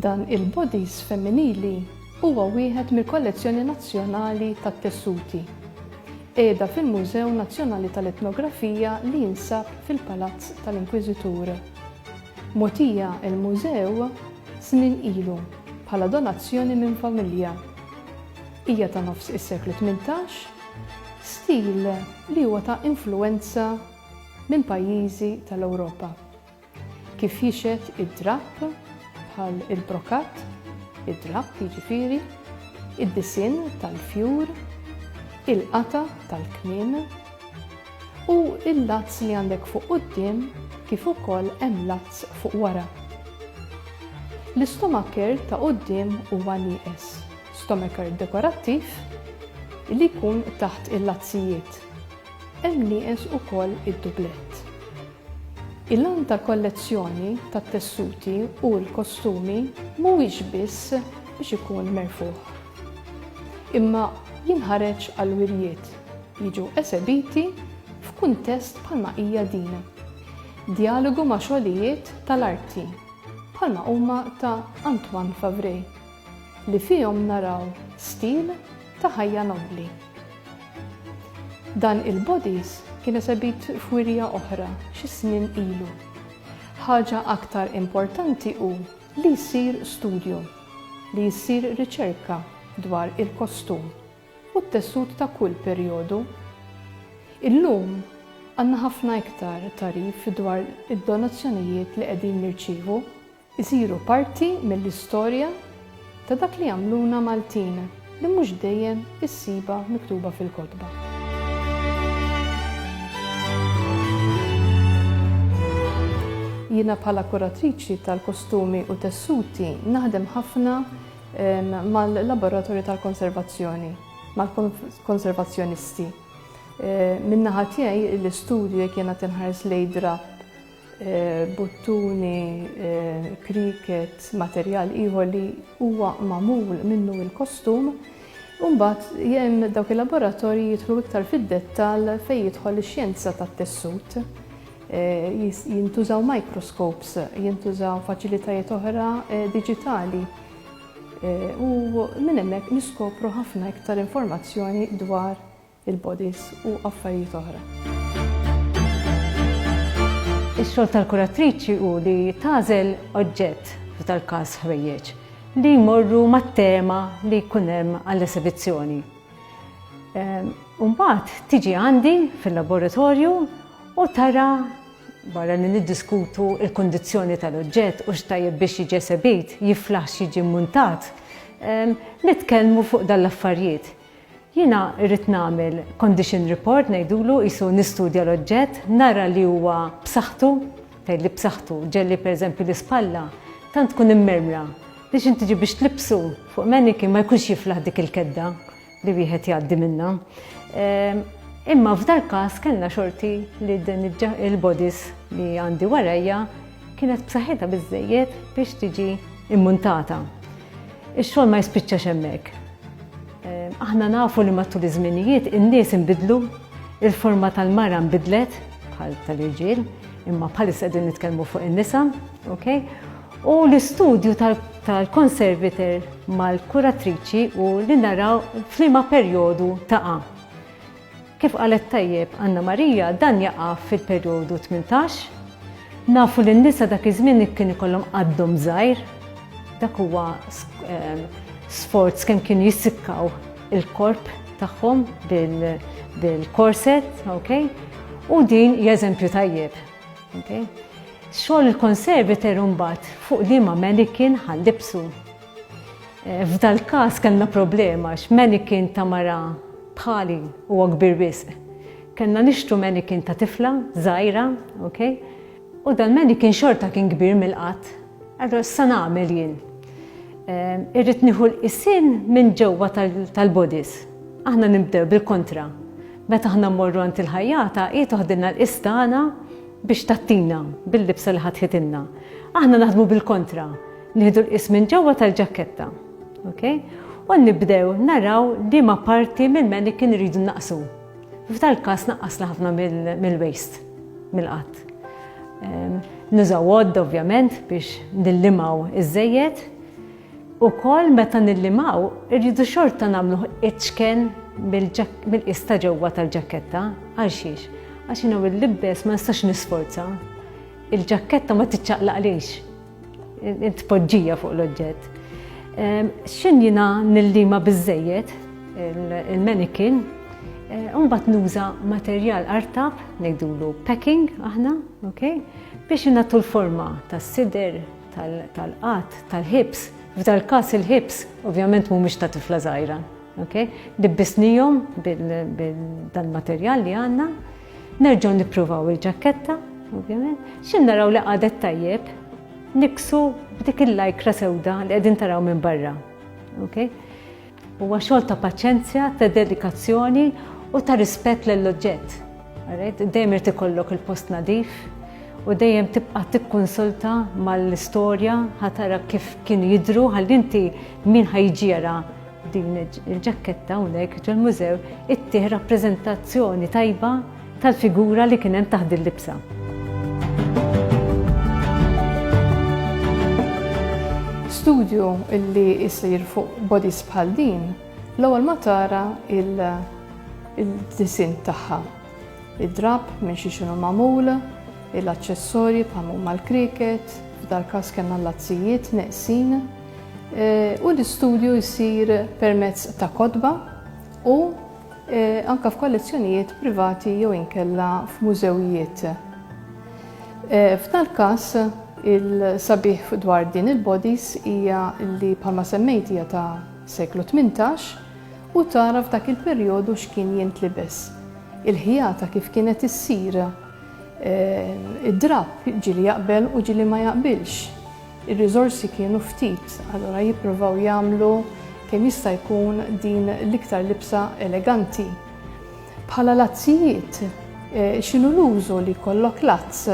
Dan il-bodice femminili huwa wieħed mill-kollezzjoni nazzjonali tat-tessuti. Qiegħda fil-Mużew Nazzjonali tal-Etnografija li jinsab fil-Palazz tal-Inkwiżitur. Mogħtija l-mużew snin ilu bħala donazzjoni minn familja. Hija ta' nofs is-seklu tmintax, stil li huwa ta' influwenza minn pajjiżi tal-Ewropa. Kif jixhed id-drapp, bħal il-brokat, id-drapp jiġifieri, id-disinn tal-fjur, il-qata' tal-kmiem, u l-lazz li għandek fuq quddiem kif ukoll hemm lazz fuq wara. L-istomaker ta' quddiem huwa nieqes. Stomacher dekorattiv li jkun taħt il-lazzijiet. Hemm nieqes ukoll id-dublett. Il-għan tal-kollezzjoni tat-tessuti u l-kostumi mhuwiex biss biex ikun merfugħ. Imma jinħareġ għall-wirjiet, jiġu esebiti f'kuntest bħalma hija din. Djalogu ma' xogħlijiet tal-arti bħalma huma ta' Antoine Favré. li fihom naraw stil ta' ħajja nobbli. Dan il-bodies kien esebit f'wirja oħra xi snin ilu. Ħaġa aktar importanti hu li jsir studju, li ssir riċerka dwar il-kostum u t-tessut ta' kull perjodu. Illum għandna ħafna iktar tagħrif dwar id-donazzjonijiet li qegħdin nirċievu. isiru parti mill-istorja ta' dak li jagħmluna Maltin li mhux dejjem issibha miktuba fil-kotba. Jiena bħala kuratriċi tal-kostumi u tessuti naħdem ħafna mal-laboratorju tal-konservazzjoni, mal-konservazzjonisti. Min-naħa tiegħi l-istudju jekk jiena qed inħares lejn drapp buttuni, cricket, materjal ieħor li huwa magħmul minnu l-kostum. U mbagħad hemm dawk il-laboratorji jidħlu iktar fid-dettall fejn jidħol ix-xjenza tat-tessut. Jintużaw microscopes, jintużaw faċilitajiet oħra diġitali u minn hemmhekk niskopru ħafna iktar informazzjoni dwar il-bodies u affarijiet oħra. Ix-xogħol tal-kuratriċi hu li tagħżel oġġett, f'dal-każ ħwejjeġ, li jmorru mat-tema li jkun hemm għall-esibizzjoni. Imbagħad ehm, tiġi għandi fil-laboratorju u tara barra li niddiskutu il-kondizjoni tal-oġġett u xtajjeb biex jiġi esebit, jiflaħx jiġi muntat, ehm, nitkellmu fuq dal-affarijiet. Jiena rrid nagħmel condition report ngħidulu qisu nistudja l-oġġett, nara li huwa b'saħħtu, tgħidli b'saħħtu, ġelli pereżempju l-ispalla tant tkun immermra li xi tiġi biex tlibsu fuq mannequin ma jkunx jiflaħ dik il-kedda li wieħed jgħaddi minnha. Ehm, imma f'dal-każ kellna xorti li din il-bodies li għandi warajja kienet b'saħħitha biżżejjed biex tiġi immuntata. Ix-xogħol ma jispiċċax hemmhekk. Ehm, aħna nafu li matul iż-żminijiet in-nies inbidlu, il-forma tal-mara nbidlet bħal tal-irġiel, imma bħalissa qegħdin nitkellmu fuq in-nisa, okay? U l-istudju tal-konserviter mal-kuratriċi u li naraw flima perjodu taqa' Kif qalet tajjeb Anna Maria, dan jaqa' fil-perjodu tmintax. Nafu li n-nisa dak iż-żmien kien ikollhom qaddhom żgħir. Dak huwa sforz kemm kienu jissikkaw il-korp tagħhom bil-korset, okay? U din hija eżempju tajjeb, okay? Xogħol il-conservator imbagħad fuq liema manikin ħa nlibbsu. F'dal-każ kellna problema għax manikin ta' mara bħali huwa kbir wisq. Kellna nixtru manikin ta' tifla żgħira, ok, u dal-manikin xorta kien kbir mill-qadd. Allura x'sa nagħmel jien? Irrid nieħu l-qisien minn ġewwa tal-bodies. Aħna nibdew bil-kontra. Meta aħna mmorru għand il-ħajjata hi toħdilna l-qies tagħna biex tgħattina bil-libsa li ħatħitilna. Aħna naħdmu bil-kontra. Nieħdu l-qis minn ġewwa tal-ġakketta. Okay? U nibdew naraw li ma parti mill-mannequin rridu naqsu. F'dal każ naqqasna ħafna mill-waist, mill-qatt. Ehm, nużaw għodd ovvjament biex nillimaw iż-żejjed. U kol meta nillimaw irridu xorta namlu iċken mill-qis ta' ġewwa tal-ġakketta. Għal xiex? Għax jinaw il-libbes ma nistax nisforza. Il-ġakketta ma tiċċaqlaqlix Tpoġġija fuq l-oġġett. X'in jiena nillima biżejjed il-manikin, mbagħad nuża materjal artab, ngħidulu packing aħna, okay? biex inagħtu l-forma tas-sider, tal-qatt, tal-ħibs. F'dal każ il-ħibs ovvjament mhumiex ta' tifla żgħira, okay? Libbisnihom bil-dan materjal li għandna. Nerġgħu nippruvaw il-ġakketta, ovvjament. Xi naraw li qadet tajjeb, niksu b'dik il-lajkra sewda li qegħdin taraw minn barra. Okay? Huwa xogħol ta' paċenzja, ta' dedikazzjoni u ta' rispett lill-oġġett. Dejjem irid ikollok il-post nadif u dejjem tibqa' tikkonsulta mal-istorja ħatara kif kienu jidru ħalli inti min ħajġiera Din il-ġakketta hawnhekk ġol-mużew ittih rappreżentazzjoni tajba tal-figura li kien hemm taħt din libsa. studju illi jisir fuq bodies bħal din, l-ewwel ma tara il-disin tagħha. Id-drab minn xi xinu magħmul, l-aċċessorji bħal huma l-kriket, f'dal każ kellna l-azzijiet neqsin, u l-istudju jsir permezz ta' kotba u anke f'kollezzjonijiet privati jew inkella f'mużewijiet. F'dal każ il-sabiħ dwar din il-bodies hija li bħalma semmejt hija ta' seklu 18 u tara f'dak il-perjodu x'kien jintlibes. Il-ħjata kif kienet issir id-drapp ġieli jaqbel u ġieli ma jaqbilx. Ir-riżorsi kienu ftit, allura jippruvaw jagħmlu kemm jista' jkun din l-iktar libsa eleganti. Bħala lazzijiet, eh, x'inhu l-użu li jkollok lazz?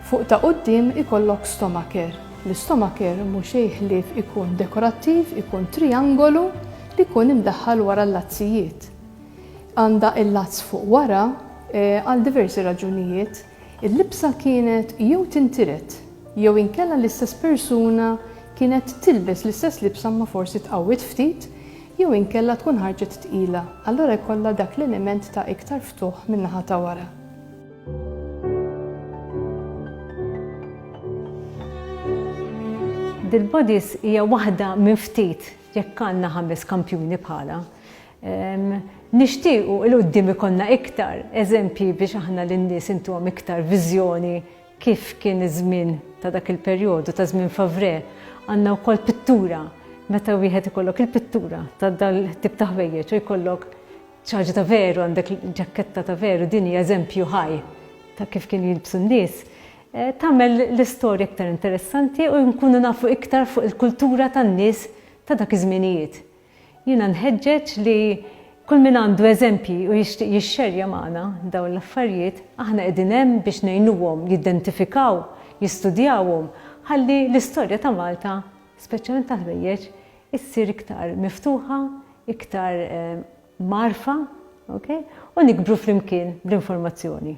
Fuq ta' quddiem ikollok stomaker. L-istomaker mhux ħlief ikun dekorattiv, ikun triangolu li jkun imdaħħal wara l-lazzijiet. Għandha il-lazz fuq wara eh, għal diversi raġunijiet. Il-libsa kienet jew tintiret jew inkella l-istess persuna kienet tilbes l-istess libsa imma forsi tqawwiet ftit jew inkella tkun ħarġet tqila, allura jkollha dak l-element ta' iktar ftuħ min-naħa ta' wara. Dil-bodice hija waħda minn ftit jekk għandna ħames kampjuni bħalha. Nixtiequ 'il quddiem ikollna iktar eżempji biex aħna lin-nies intuhom iktar viżjoni kif kien iż-żmien ta' dak il-perjodu, ta' żmien Favrè. Għandna wkoll pittura, meta wieħed ikollok il-pittura ta' dal-tip ta' ħwejjeġ u jkollok xi ħaġa ta' veru, għandek ġakketta ta' veru, din hija eżempju ħaj ta' kif kienu jilbsu n-nies, tagħmel l-istorja iktar interessanti u nkunu nafu iktar fuq il-kultura tan-nies ta' dak iż-żminijiet. Jiena nħeġġeġ li kull min għandu eżempji u jixtieq jixxerja magħna dawn l-affarijiet, aħna qegħdin hemm biex ngħinuhom jidentifikaw, jistudjawhom, ħalli l-istorja ta' Malta, speċjalment tal-ħwejjeġ, issir iktar miftuħa, iktar mgħarrfa, ok, u nikbru flimkien bl-informazzjoni.